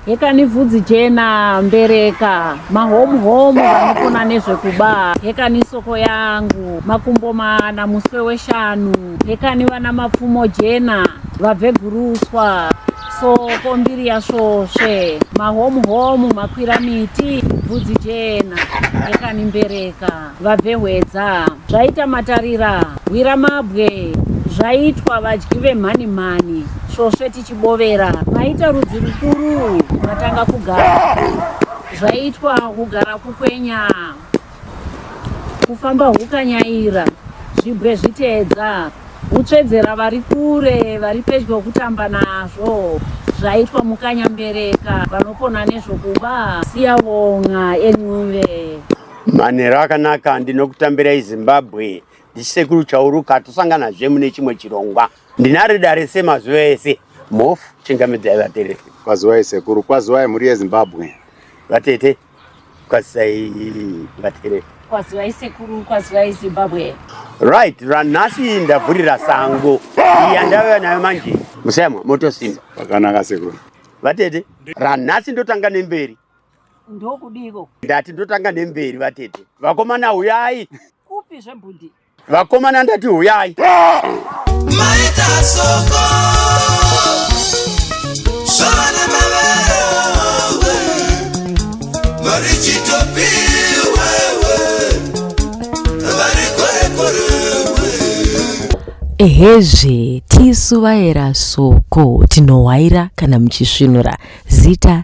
hekani vhudzi jena mbereka mahomu homu vanopona nezvekuba hekani soko yangu makumbo mana muswe weshanu hekani vana mapfumo jena vabve guruswa soko mbiri yasvosve mahomu homu makwira miti vhudzi jena hekani mbereka vabve hwedza zvaita matarira hwira mabwe zvaitwa vadyi vemhani mhani svosve tichibovera maita rudzi rukuru matanga kugara zvaitwa kugara kukwenya kufamba hukanyaira zvibwe zviteedza hutsvedzera vari kure vari pedyo kutamba nazvo zvaitwa mukanyambereka vanopona nezvokuba siyavonga encuve Manhero akanaka ndinokutambirai Zimbabwe ndisekuru chauruka tosangana zve mune chimwe chirongwa ndinari dare semazuva ese mof chingamidzai vatereri kwaziwai sekuru kwaziwai mhuri yezimbabwe vatete kwazisai vatereri kwaziwai sekuru kwaziwai zimbabwe right ranhasi ndavhurira sango iya ndaveva nayo manje musayamwa motosimba vakanaka sekuru vatete ranhasi ndotanga nemberi Ndokudii ikoko? Ndati ndotanga nemberi vatete. Vakomana huyai. Kupi zvebhundi? Vakomana ndati huyai. Maita soko. Sona mavero. Marichitopi wewe. Varikorekore. Ehezve, tisu vaera soko tinohwaira kana muchisvinura zita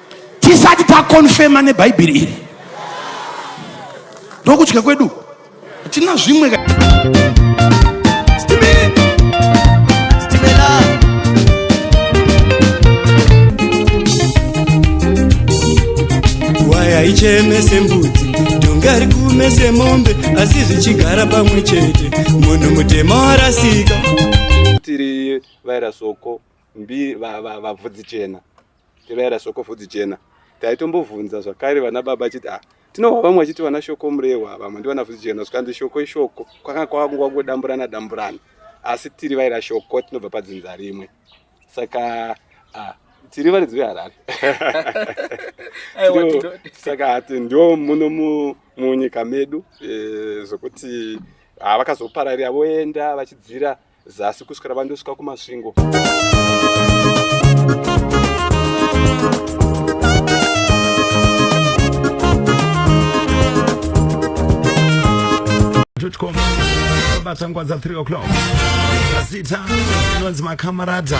tisati takonfema nebhaibheri iri ndokudya kwedu hatina zvimwe haicheme sembudzi dhonga rikume semombe asi zvichigara pamwe chete munhu mutema warasika tiri vairasoko mbi vabvudzi chena Tevera shoko vhudzi jena. Taitombovhunza zvakare vana baba achiti ah tinohwa vamwe vachiti vana shoko murehwa vamwe ndivana vhudzi jena zvikanzi shoko ishoko kwanga kwakungangodamburana damburana asi tiri vaira shoko tinobva padzinza rimwe saka ah, tiri varidzi veharare saka hati ndo muno munyika medu eh, zvokuti ah, vakazopararira voenda vachidzira zasi kusvikira vandosvika kumasvingo bata nguva dza 3 o'clock zita inonzi makamarata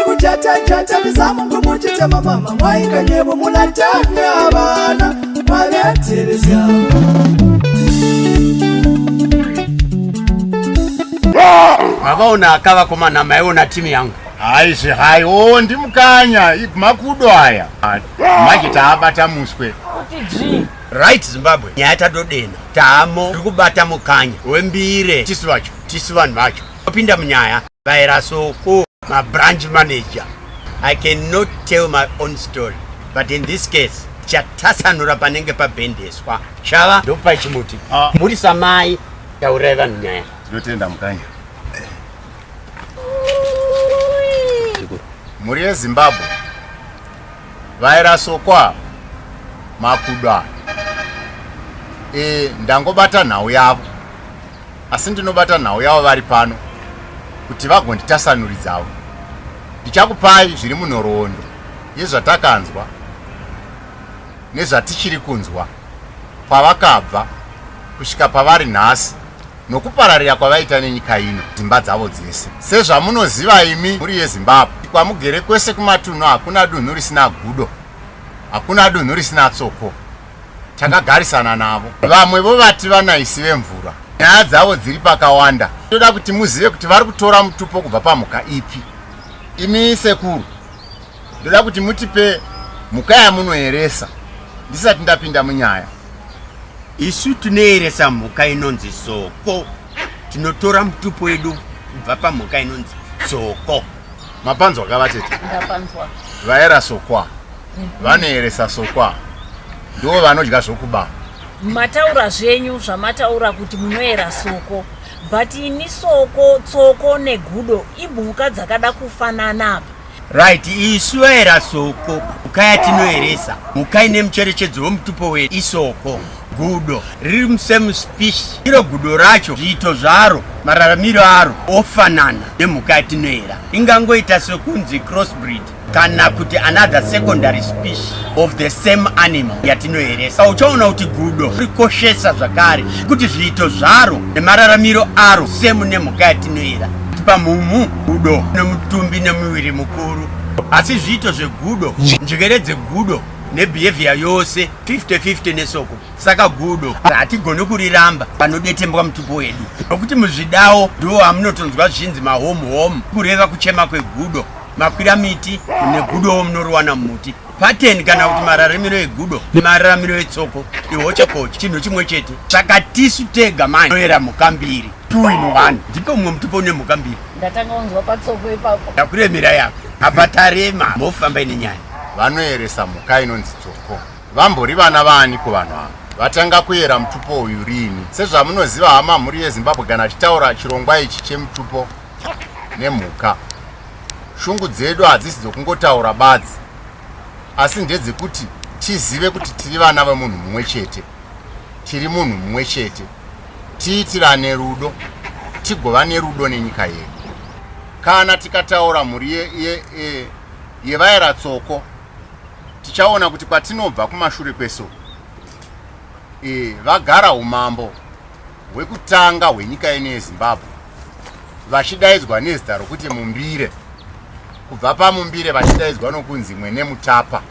ikujata jata mizamu ngumuchita mamama mwaika nyebo mulatanya abana mwaveterezya mavaona akava komana maiona timu yangu haizvi hai o ndimukanya makudo aya manje taabata muswe right zimbabwe nyaya tadodena taamo tiri kubata mukanya wembire tisu vacho tisu vanhu vacho Opinda munyaya vaera so ku ma branch manager. I cannot tell my own story but in this case chatasanura panenge pabhendeswa chava ndopa chimuti ah. muri samai taurai vanhu nyaya tinotenda mukanya mhuri yezimbabwe vairasokwa makuda e, ndangobata nhau yavo asi ndinobata nhau yavo vari pano kuti vagonditasanuridzawo ndichakupai zviri munhoroondo yezvatakanzwa nezvatichiri kunzwa kwavakabva kusvika pavari nhasi nokupararira kwavaita nenyika ino dzimba dzavo dzese sezvamunoziva imi mhuri yezimbabwe kwamugere kwese kumatunhu hakuna dunhu risina gudo hakuna dunhu risina tsoko takagarisana navo vamwe vovati vanaisi vemvura nyaya dzavo dziri pakawanda toda kuti muzive kuti vari kutora mutupo kubva pamhuka ipi imi sekuru ndoda kuti mutipe mhuka yamunoeresa ndisati ndapinda munyaya isu tinoeresa mhuka inonzi soko tinotora mutupo wedu kubva pamhuka inonzi soko mapanzwa kavatete vaera sokwa vanoeresa sokwa ndivo vanodya zvokuba mataura zvenyu zvamataura kuti munoera soko but ini soko tsoko negudo imhuka dzakada kufanana apa right isu vaera soko mhuka yatinoeresa mhuka ine mucherechedzo wemutupo wedu isoko gudo riri musame species iro gudo racho zviito zvaro mararamiro aro ofanana nemhuka yatinoera ingangoita sekunzi crossbreed kana kuti another secondary species of the same animal yatinoeresa uchaona kuti gudo rikoshesa zvakare kuti zviito zvaro nemararamiro aro semu nemhuka yatinoera pamhumu gudo nemutumbi nemuviri mukuru asi zviito zvegudo njekere dzegudo nebehavior yose 50-50 nesoko saka gudo hatigoni kuriramba panodetembwa mutupo wedu nokuti muzvidawo ndiwo amunotonzwa zvinzi mahome home kureva kuchema kwegudo makwira miti negudowo munoriwana mumuti pateni kana kuti mararamiro egudo nemararamiro etsoko ihochekoche chinhu chimwe chete saka tisu tega mani toera mhuka mbiri two in one ndipo mumwe mutupo une mhuka mbiri ndatanga kunzwa patsoko ipapo ndakuremera yako apa tarema mofamba ine nyaya vanoeresa mhuka inonzi tsoko vambori vana vaani kuvanhu ava vatanga kuyera mutupo uyu riini sezvamunoziva hama mhuri yezimbabwe kana tichitaura chirongwa ichi chemutupo nemhuka shungu dzedu hadzisi dzokungotaura badzi asi ndedzekuti tizive kuti tiri vana vemunhu mumwe chete tiri munhu mumwe chete tiitirane rudo tigova nerudo nenyika yedu kana tikataura mhuri yevaera ye, ye, tsoko tichaona kuti kwatinobva kumashure kweso e, vagara umambo hwekutanga hwenyika ino yezimbabwe vachidaidzwa nezita rokuti mumbire kubva pamumbire vachidaidzwa nokunzi mwene mutapa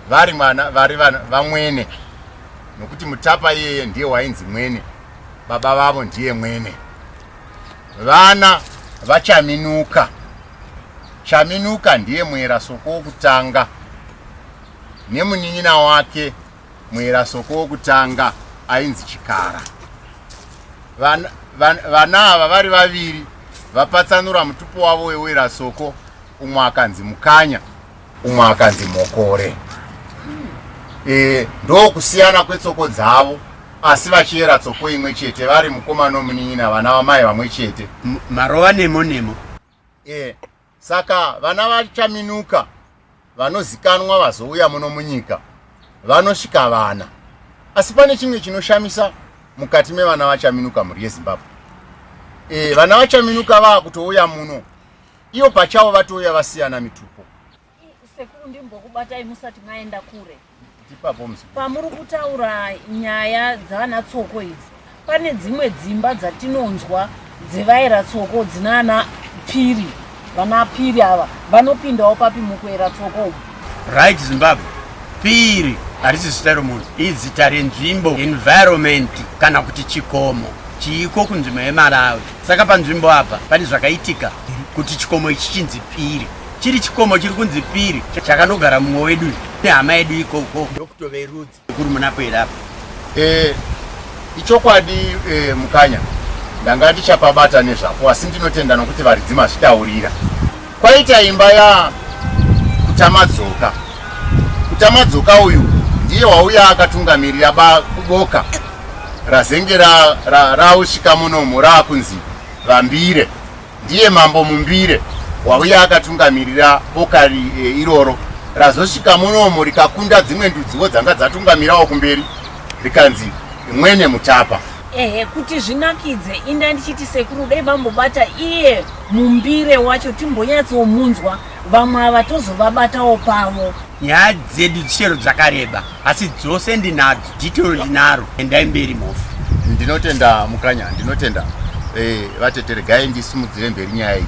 vari mwana vari vamwene nokuti mutapa iyeye ndiye wainzi mwene baba vavo ndiye mwene vana vachaminuka chaminuka ndiye muera soko wokutanga nemunin'ina wake Muirasoko wokutanga ainzi Chikara. Vana, van, vana ava vari vaviri vapatsanura mutupo wavo weuirasoko umwe akanzi Mukanya umwe akanzi Mokore. E, ndokusiyana kwetsoko dzavo asi vachiyera tsoko imwe chete vari mukoma nomunin'ina vana vamai vamwe chete. Marova nemo nemo. e saka vana vachaminuka vanozikanwa vazouya muno munyika vanosvika vana asi pane chimwe chinoshamisa mukati mevana vachaminuka mhuri yezimbabwe e vana vachaminuka vaakutouya muno ivo pachavo vatouya vasiyana mitupo Sekuru ndimbokubatai musati maenda kure. Pamuri kutaura nyaya dzavana tsoko idzi, pane dzimwe dzimba dzatinonzwa dzevaera tsoko dzinana piri vana piri ava vanopindawo papi mukuera tsoko umu right zimbabwe piri harisi zita romunhu izita renzvimbo environment kana kuti chikomo chiiko kunzvimbo yemalawi saka panzvimbo apa pane zvakaitika kuti chikomo ichi chinzi piri chiri chikomo chiri kunzi piri chakanogara mumwe wedu nehama yedu ikoko ndokuto verudzi kuri munapoera apa eh, ichokwadi eh, mukanya ndanga ndichapabata nezvapo asi ndinotenda nokuti varidzi mazvitaurira kwaita imba ya kutamadzoka kutamadzoka uyu ndiye wauya akatungamirira bakuboka razenge rausvika ra, ra, munomu raakunzi vambire Ndiye mambo Mumbire wauya akatungamirira boka e, iroro razosvika munomo rikakunda dzimwe ndudziwo dzanga dzatungamirawo kumberi rikanzi mwene mutapa ehe kuti zvinakidze inda ndichiti sekuru dai vambobata iye mumbire wacho timbonyatsomunzwa vamwe ava tozovabatawo pavo nyaya dzedu chero dzakareba asi dzose ndinadzo detail ndinaro endai mberi mhofu ndinotenda mukanya ndinotenda eh, vatete regai ndisimudzire mberi nyaya iyi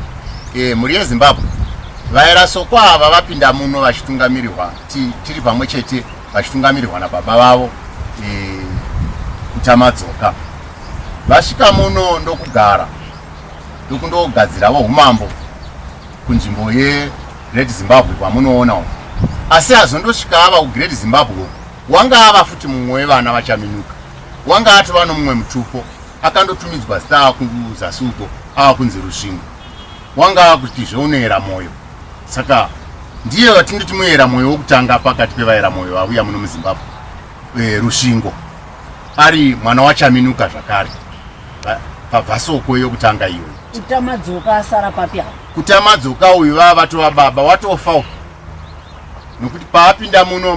eh, mhuri yezimbabwe vairasokwa ava vapinda muno vachitungamirirwa tiri pamwe chete vachitungamirirwa nababa vavo eh, kuchamadzoka vasvika muno ndokugara ndokundogadziravo umambo kunzvimbo yeGreat Zimbabwe kwamunoona uko asi azondosvika ava kuGreat Zimbabwe uko wanga ava futi mumwe wevana vachaminuka wanga atova nomumwe mutupo akandotumidzwa zita ava kuzasi uko ava kunzi rusvingo wanga ava kuti zveunoyera mwoyo saka ndiye vatingiti muyera mwoyo wokutanga pakati pevayera mwoyo vavuya muno muzimbabwe eh, rushingo ari mwana wachaminuka zvakare pabvasoko yokutanga iyoyo kutamadzoka asara papi apo kutamadzoka uyu vava vatova baba watofa u nokuti paapinda muno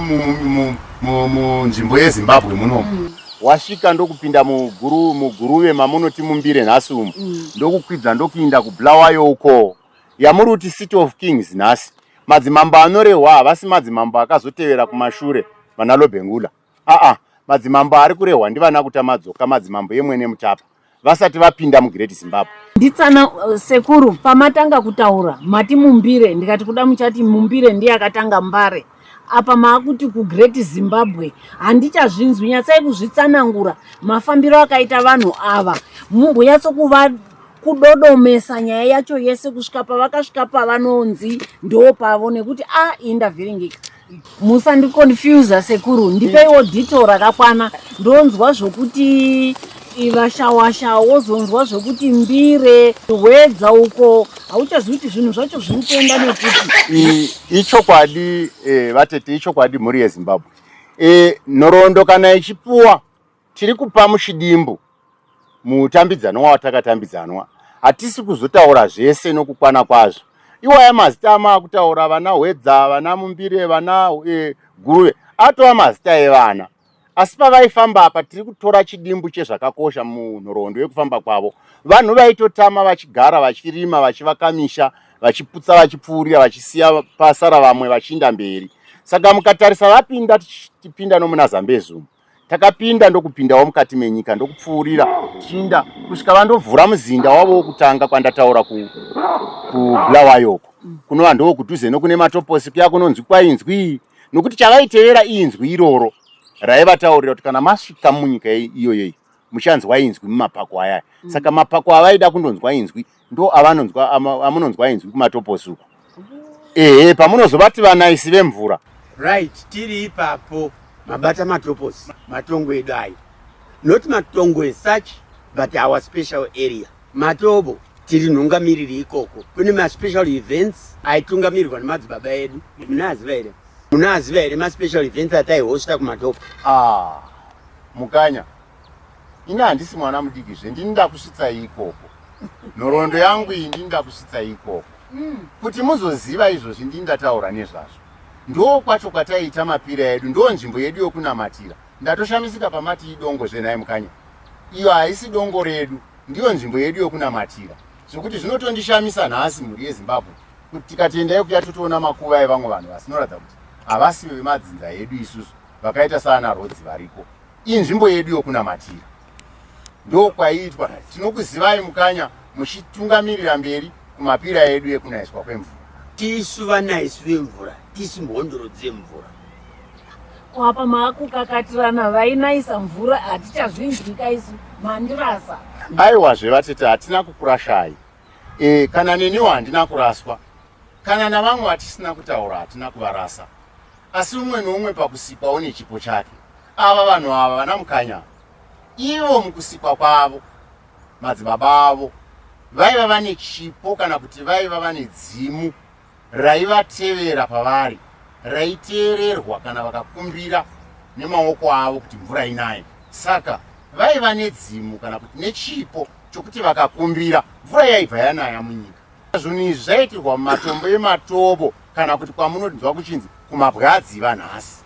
munzvimbo yezimbabwe munomu mm. wasvika ndokupinda muguruve mamunoti mumbire nhasi umu mm. ndokukwidza ndokuinda kublawayo uko yamuri kuti city of kings nhasi madzimambo anorehwa havasi madzimambo akazotevera kumashure vana lobengula aa madzimambo ari kurehwa ndivana kutamadzoka madzimambo yemwene mutapa vasati vapinda mugreat zimbabwe nditsana uh, sekuru pamatanga kutaura mati mumbire ndikati kuda muchati mumbire ndiye akatanga mbare Apa maakuti ku great Zimbabwe handichazvinzwi nyatsai kuzvitsanangura mafambiro akaita vanhu ava mumbonyatso kuva kudodomesa nyaya yacho yese kusvika pavakasvika pavanonzi ndoo pavo nekuti a ah, iyi ndavhiringika musandiconfusa sekuru ndipeiwo dito rakakwana ndonzwa zvokuti iva shawasha wozonzwa zvekuti mbire hwedza uko hauchazivi kuti zvinhu zvacho zviri kuenda nekuti ichokwadi eh, vatete ichokwadi mhuri yezimbabwe eh, nhoroondo kana ichipuwa tiri kupa muchidimbu mutambidzanwa watakatambidzanwa hatisi kuzotaura zvese nokukwana kwazvo iwaya mazita amaakutaura vana hwedza vana mumbire vana eh, guruve atova mazita evana Asi pavaifamba apa tiri kutora chidimbu chezvakakosha munhoroondo yekufamba kwavo. Vanhu vaitotama vachigara vachirima vachivaka misha vachiputsa vachipfuurira vachisiya pasara vamwe vachiinda mberi. Saka mukatarisa vapinda tichipinda nomuna Zambezi umu. Takapinda ndokupindawo mukati menyika ndokupfuurira tichiinda kusvika vandovhura muzinda wavo wokutanga kwandataura ku, ku Bulawayo uko. Kunova ndokudhuze nokune matoposi kuya kunonzi kwainzwii nokuti chavaitevera inzwi iroro raivataurira kuti kana masvika munyika iyoyoyi muchanzwa inzwi mumapako ayaya mm. saka mapako avaida kundonzwa inzwi ndo avanonzwa amunonzwa inzwi kumatoposuku ehe pamunozovati vanaisi vemvura right tiri ipapo mabata matoposi matongo edu ayo not matongo esuch but our special area Matobo tiri nhungamiriri ikoko kune maspecial events aitungamirwa nemadzibaba edu munaziva here munaziva here maspecial events ataihosta kumatobo ah, mukanya ini handisi mwana mudiki zve ndini ndakusvitsa ikoko nhoroondo yangu iyi ndini ndakusvitsa ikoko mm. kuti muzoziva izvozvi ndini ndataura nezvazvo ndoo kwacho kwataiita mapira edu ndoo nzvimbo yedu yokunamatira ndatoshamisika pamati idongo zvenhai mukanya iyo haisi dongo redu ndiyo nzvimbo yedu yokunamatira zvekuti zvinotondishamisa nhasi mhuri yezimbabwe kuti tikatenda yekuya totoona makuva evamwe vanhu vasinoratidza kuti havasive vemadzinza yedu isusu vakaita saana rodzi variko inzvimbo yedu yokunamatira ndokwaiitwa tinokuzivai mukanya muchitungamirira mberi kumapira edu ekunaiswa kwemvura tisu vanaisu vemvura tisu mhondoro dzemvura Ko apa maakukakatirana vainaisa mvura hatichazvinzwika isu mandirasa. Aiwa zvevatete hatina kukurashai. E, kana neniwo handina kuraswa. Kana navamwe vatisina kutaura hatina kuvarasa. Asi umwe noumwe pakusikwa une chipo chake. Ava vanhu ava vana mukanya. Ivo mukusikwa kwavo madzibaba avo vaiva vane chipo kana kuti vaiva vane dzimu raivatevera pavari raiteererwa kana vakakumbira nemaoko avo kuti mvura inaye. Saka vaiva nedzimu kana kuti nechipo chokuti vakakumbira mvura yaibva yanaya munyika. Zvinhu izvi zvaiitirwa mumatombo ematobo kana kuti kwamunonzwa kuchinzi kumabwadzi vanhasi.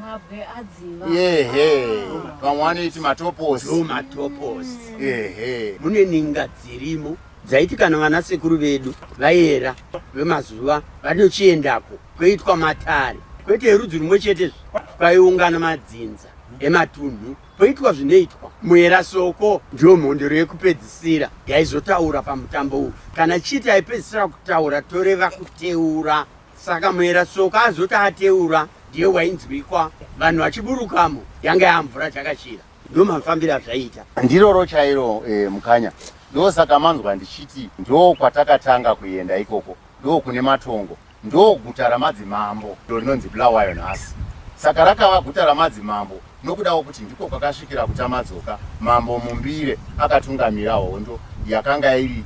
Mabwe adziva. Yehe. Vamwe vanoiti matoposi. Ndo matoposi. Yehe. Mune ninga dzirimo dzaiti kana vana sekuru vedu vayera vemazuva vanochiendako kwoitwa matare kwete yerudzi rumwe chete kwaiungana madzinza ematunhu poitwa zvinoitwa muera soko ndiyo mhondoro yekupedzisira yaizotaura pamutambo uyu kana chiti aipedzisira kutaura toreva kuteura Saka mwera soka azoti ateura ndiye wainzwikwa vanhu vachiburukamo yanga yamvura chakachira ndomafambiro azvaita ndiroro chairo eh, mukanya ndosaka manzwa ndichiti ndo kwatakatanga kuenda ikoko ndo kune matongo ndo guta ramadzimambo ndo rinonzi bulawayo nhasi saka rakava guta ramadzimambo Nokudawo kuti ndiko kwakasvikira kuTamadzoka, Mambo Mumbire akatungamira hondo yakanga iri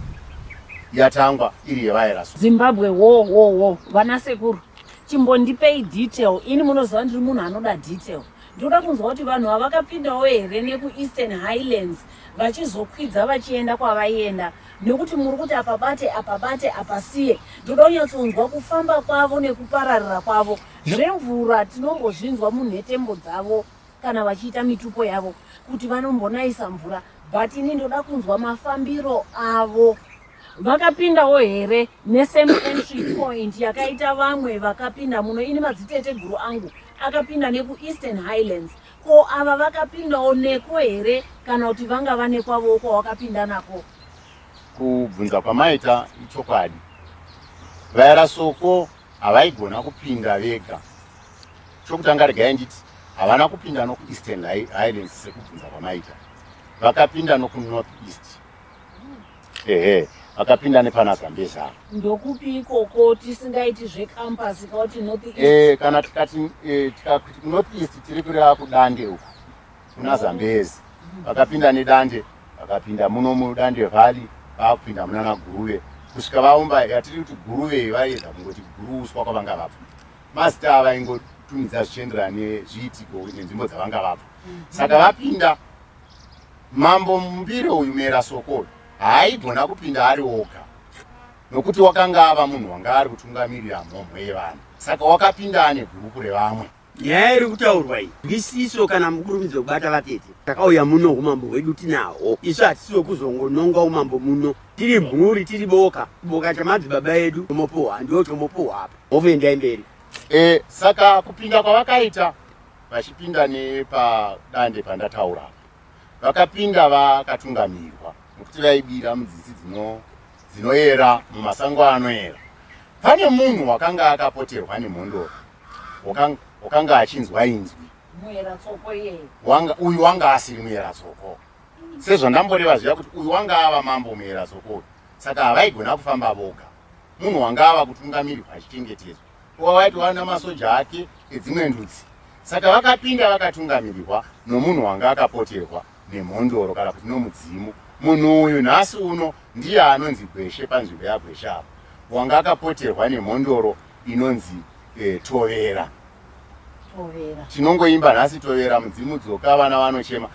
yatangwa iri yevairaswa. Zimbabwe wo wo wo vana sekuru chimbondipei detail ini munoziva ndiri munhu anoda detail ndoda kunzwa kuti vanhu vavakapindawo here nekueastern highlands vachizokwidza vachienda kwavaienda nekuti muri kuti apabate apabate apasiye ndoda kunyatsonzwa kufamba kwavo nekupararira kwavo Zvemvura tinombozvinzwa munhetembo dzavo kana vachiita mitupo yavo kuti vanombonayisa mvura but ini ndoda kunzwa mafambiro avo. Vakapindawo here nesame entry point yakaita vamwe vakapinda muno ini madziteteguru angu akapinda nekueastern highlands ko ava vakapindawo neko here kana kuti vanga vane kwavowo kwawakapinda nako kubvunza kwamaita ichokwadi vaera soko havaigona kupinda vega chokutanga regai nditi havana kupinda nokueastern highlands sekubvunza kwamaita vakapinda nokunorth east ehe vakapinda nepana zambezaa ndokupi ikoko tisingaiti zvecampus kauti north east e, kana tikati e, tikakuti kunorth east tiri kureva kudande uku kuna Zambezi vakapinda nedande vakapinda muno mudande valley vakupinda munana Guruve kusvika vaumba yatiri kuti Guruve vaiedza kungoti Guru uswa kwavanga vabva mazita ava ingotumidza zvichienderana nezviitiko nenzvimbo dzavanga vabva saka vapinda mambo mumbire uyu mera soko haaigona kupinda ari oga nokuti wakanga ava munhu wanga ari kutungamirira mhomho yevanhu saka wakapinda ane gurupu revamwe nyaya iri kutaurwa iyi ndisiso kana mukurumidzo kubata vatete takauya muno umambo hwedu tinahwo isu hatisi wekuzongononga umambo muno tiri mhuri tiri boka boka chamadzibaba edu tomopuhwa ndiwo tomopuhwa apa ovoendai mberi e, saka kupinda kwavakaita vachipinda nepadande pandataura vakapinda vakatungamirwa nokuti vaibira mudzisi dzinoyera mumasango anoyera pane munhu wakanga akapoterwa nemhondoro wakanga achinzwa inzwi uyu wanga asiri muyera tsoko sezvandamboreva zviya kuti uyu wanga ava mambo muyera tsoko uyu saka havaigona kufamba voga munhu wanga ava kutungamirirwa achichengetedzwa wawaitwa namasoja ake edzimwe ndudzi saka vakapinda vakatungamirirwa nomunhu wanga akapoterwa nemhondoro kana kuti nomudzimu munhu uyu nhasi uno ndiye anonzi gweshe panzvimbo yagweshe apo wanga akapoterwa nemhondoro inonzi eh, tovera tinongoimba nhasi tovera mudzimu dzoka vana vanochema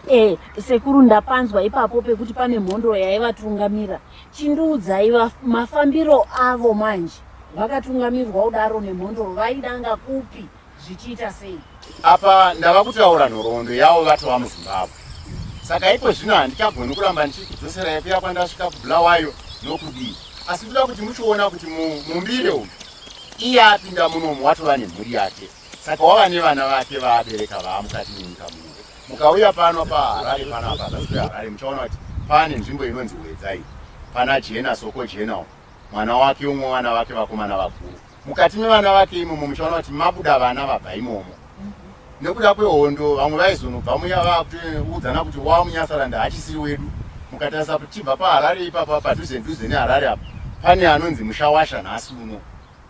Eh, sekuru ndapanzwa ipapo pekuti pane mhondo yaivatungamira chindiudzai mafambiro avo manje vakatungamirwa kudaro nemhondo vaidanga kupi zvichiita sei apa ndava kutaura nhoroondo yavo vatova muzimbabwe saka iko zvino handichagoni kuramba ndichidzosera yekuya kwandasvika kubulawayo nokudii asi ndoda kuti muchiona kuti mumbire umu iye apinda munomu watova nemhuri yake Saka wava nevana vake vaabereka vaamukati nenyika muno. Mukauya pano paHarare panapa pasi peHarare muchaona kuti pane nzvimbo inonzi Hwedzai pana Jena Soko Jenal mwana wake umwe vana vake vakomana vakuru. Mukati mevana vake imomo muchaona kuti mabuda vana vabva imomo. Nekuda kwehondo vamwe vaizonobva muya vakuudzana kuti wa Munyasaranda hachisiri wedu. Mukatarisa kuti chibva paHarare ipapa padhuze dhuze neHarare apa pane anonzi Mushawasha nhasi uno.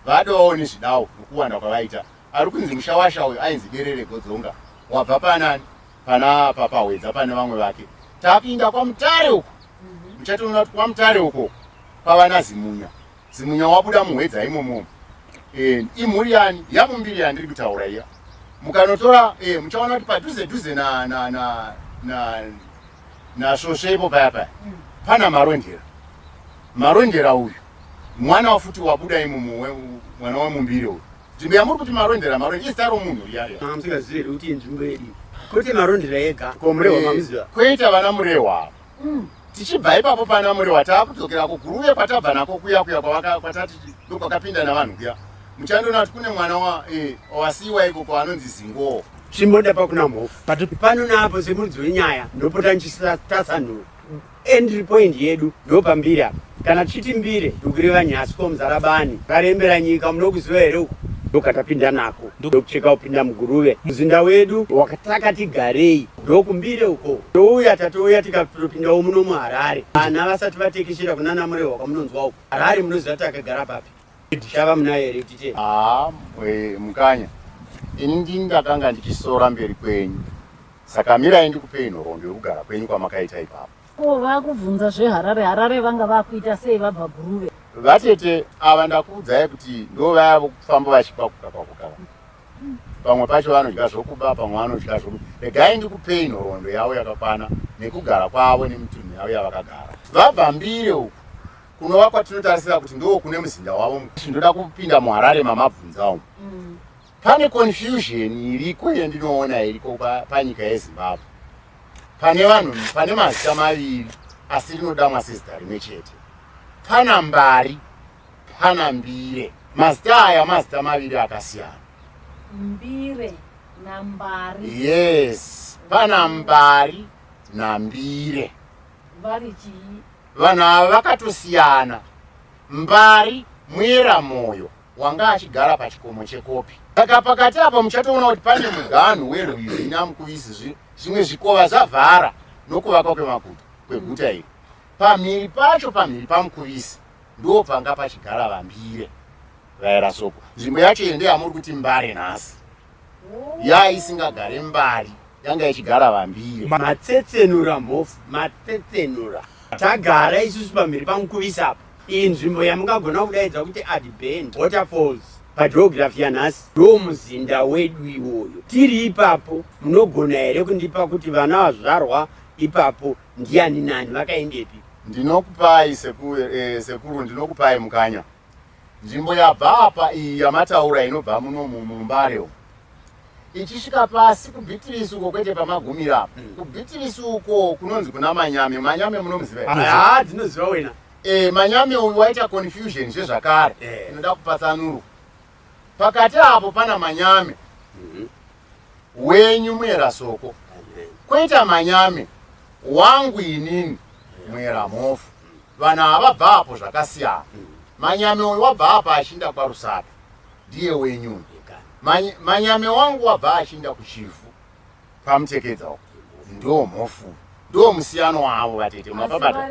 Vadovawo nezvidawo mukuwanda kwavaita. Ari kunzi mushawasha uyu ainzi Derere Godzonga. Wabva panani? Pana Papa Hwedza pane vamwe vake. Tapinda kwaMutare uko. Muchatoona kuti kwaMutare uko kwava naZimunya. Zimunya wabuda muHwedza imomo. Eh, imhuri yani yamumbiri yandiri kutaura iya. Mukanotora eh, muchaona kuti padhuze dhuze na na na na na svosve ipo paya paya. Pana Marondera. Marondera uyu Mwana wafuti wabuda imumu we, mwana wemumbiri uyu. Nzvimbo yamuri kuti marondera marondera izita romunhu riya riya. Ah, musingazive kuti inzvimbo yedu. Kuti marondera yega. Ko murehwa eh, mamuziva. Koita vana murehwa. Mm. Tichibva ipapo pana murehwa taakudzokera ko guru uye kwatabva nako kuya kuya kwavaka kwatati ndokwakapinda navanhu kuya. Muchandoona kuti kune mwana wa eh wasiwa iko kwaanonzi Zingo. Chimboda pakuna mhofu. Patu pano napo semunzi wenyaya ndopota nchisatasa nhu. Entry point yedu ndopambiri apa. Kana tichiti mbire ndokureva nyasi ko mzara bani karembera nyika munokuziva here uku ndokatapinda nako ndokucheka kupinda muguruve muzinda wedu wakatakati garei ndokumbire uko touya tatouya tikatopindawo muno muharare vana vasati vatekeshera kunana murehwa kwamunonzwa uko harare munoziva takagara papi Ndichava munaye here kuti chii? Haa eh, mukanya ini ndini ndakanga ndichisora mberi kwenyu saka mirai ndikupei nhoroondo yokugara kwenyu kwamakaita ipapo Ko vakubvunza zveharare harare vanga vakuita sei vabva guruve. vatete ava ndakuudzai kuti ndo vaya vokufamba vachikwakuka kwakuka vaya. pamwe pacho vanodya zvokuba pamwe vanodya zvoku regai ndikupei nhoroondo yavo yakakwana nekugara kwavo nemitunhu yavo yavakagara vabva mbire uku kunova kwatinotarisira kuti ndoo kune muzinda wavo ndoda kupinda muharare mamabvunza umu mm. pane confusion iriko yandinoona iriko panyika yezimbabwe pane vanhu pane mazita maviri asi rinodamwa sezita rimwe chete pana mbari pana mbire mazita aya mazita maviri akasiyana mbire nambari yes pana mbari nambire vari chii Vanhu ava vakatosiyana. Mbari Mwera Moyo wanga achigara pachikomo chekopi. Saka pakati apo muchatoona kuti pane muganhu werwizi Nyamukuvisi, zvimwe zvikova zvavhara nokuvakwa kwemakuta kweguta iri. Pamhiri pacho, pamhiri paMukuvisi, ndo panga pachigara Vambire vaera Soko. Nzvimbo yacho iyo ndeyamuri kuti Mbare nhasi. yai isingagare mbari yanga ichigara vambire matsetsenura mhofu matsetsenura tagara isusu pamberi pamukuvisa apa iyi nzvimbo yamungagona kudaidza kuti adband waterfalls pageografi yanhasi ndo muzinda wedu iwoyo tiri ipapo munogona here kundipa kuti vana vazvarwa ipapo ndiani nani vakaendepi ndinokupai sekuru eh, ndinokupai mukanya Nzvimbo yabva apa iyi yamataura inobva muno mumbare umu ichisvika pasi kubitirisi uko kwete pamagumira apa mm. kubitirisi uko kunonzi kuna manyame manyame munomuziva ah, ah, dzinoziva wena e, manyame uyu waita confusion zvezvakare eh. inoda kupatsanurwa pakati apo pana manyame mm-hmm. wenyu muera soko koita manyame wangu inini muera mhofu vanhu ava vabva apo zvakasiyana manyame uyu wabva apa achinda kwarusapi ndiye wenyu manyame wangu wabva achinda kuchivhu pamutekedza uko ndo mhofu ndo musiyano wavo vatete mapabata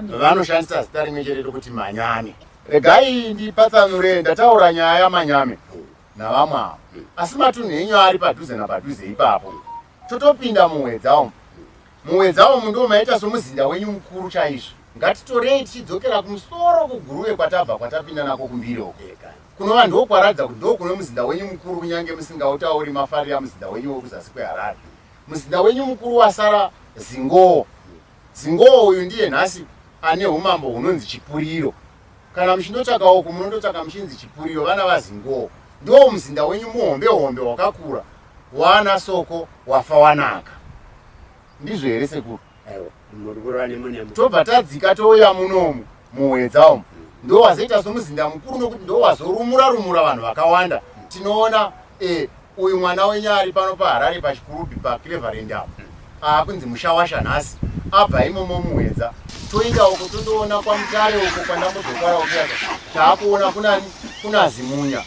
vanoshandisa zita rimwe chereto kuti manyame regai ndipatsanure ndataura nyaya yamanyame navamwe avo asi matunhu enyu ari padhuze napadhuze ipapo totopinda muhwedza umu muhwedza umu ndiwo maita somuzinda wenyu mukuru chaizvo ngatitorei tichidzokera kumusoro kuguruve kwatabva kwatapinda nako kumbiri uko kunova ndokwaratidza kuti ndokune muzinda wenyu mukuru kunyange musingautauri mafarira muzinda wenyu wekuzasi kweharare muzinda wenyu mukuru wasara zingowo zingowo uyu ndiye nhasi ane umambo hunonzi chipuriro Kana muchindotsvaka uku munondotsvaka muchinzi chipuriro vana vazingowo ndiwo muzinda wenyu muhombe hombe wakakura wana soko wafa wanaka ndizvo here sekuru tobva tadzika touya munomu muhwedza umu ndowazoita somuzinda mukuru nokuti ndowazorumura rumura vanhu vakawanda tinoona e, Uyu mwana wenyu ari pano paHarare paChikurubi paCleverland apo aakunzi mushawasha nhasi abva imomo muhwedza toinda uko tondoona kwamutare uko kwandambodokara ukuyaka taakuona kunani kuna zimunya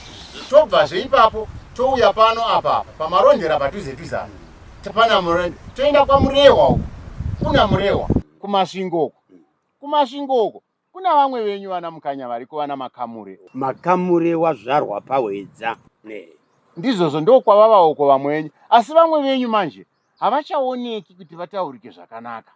tobvazve ipapo touya pano apapa pamarondera padhuze dhuze ano tapana murende toenda kwamurehwa uko kuna murehwa kumasvingo uko kumasvingo uko Kuna vamwe venyu vana Mukanya variko vana Makamure. Makamure wazvarwa paHwedza. Ne. Ndizvozvo ndokwavavawo ko vamwe venyu. Asi vamwe venyu manje havachaoneki kuti vataurike zvakanaka.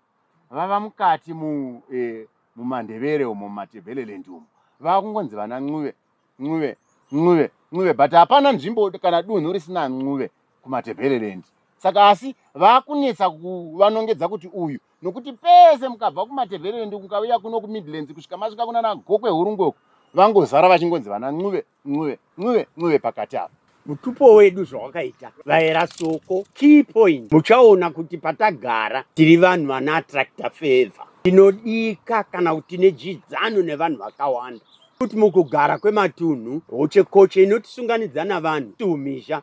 Vava mukati mu eh, mumaNdebele umo mumaTebeleland umo. Vakungonzi vana Ncuve. Ncube, Ncube, Ncube but hapana nzvimbo kana dunhu risina Ncube kuMatebeleland. Saka asi vakunetsa kuvanongedza kuti uyu nokuti pese mukabva kuMatebeleland mukauya kuno kuMidlands kusvika masvika kunana Gokwe Hurungoko vangozara vachingonzi vana Ncube, Ncube, Ncube, Ncube pakati apa. mutupo wedu zvawakaita vaera soko key point muchaona kuti patagara tiri vanhu vana attracta favor tinodika kana kuti tine dyidzano nevanhu vakawanda kuti mukugara kwematunhu hochekoche inotisunganidza navanhu tiumhizha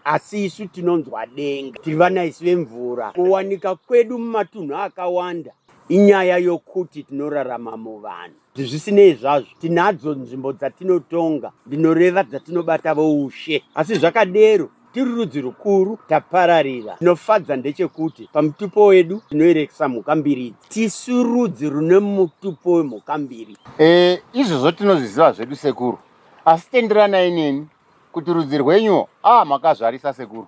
asi isu tinonzwa denga tiri vana isi vemvura kuwanika kwedu mumatunhu akawanda inyaya yokuti tinorarama muvanhu Zvisinei zvazvo, tinadzo nzvimbo dzatinotonga, ndinoreva dzatinobata voushe. Asi zvakadero, tiri rudzi rukuru tapararira. Chinofadza ndechekuti pamutupo wedu tinoerekesa mhuka mbiri idzi. Tisu rudzi rune mutupo wemhuka mbiri. E, izvozvo tinozviziva zvedu sekuru, asi tenderanai neni kuti rudzi rwenyuwo a ah, makazvarisa sekuru.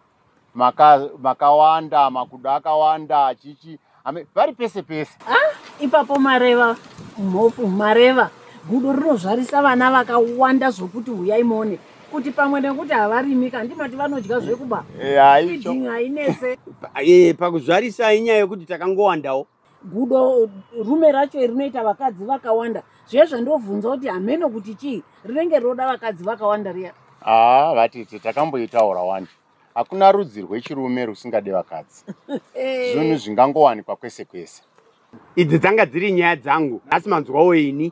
makawanda maka makudo akawanda chichi vari pese pese ah, ipapo mareva mhofu mareva gudo rinozvarisa vana vakawanda zvokuti huyai mone kuti pamwe nekuti havarimi ka ndimati vanodya zvekuba eh, hainese eh, pakuzvarisa inyaya yekuti takangowandawo gudo rume racho iri rinoita vakadzi vakawanda zviye zvandovhunza kuti hameno kuti chii rinenge rinoda vakadzi vakawanda riya haa vatete takamboitaura wani hakuna rudzi rwechirume rusingade vakadzi eh. zvinhu zvingangowanikwa kwese kwese idzi dzanga dziri nyaya dzangu nhasi manzwawo ini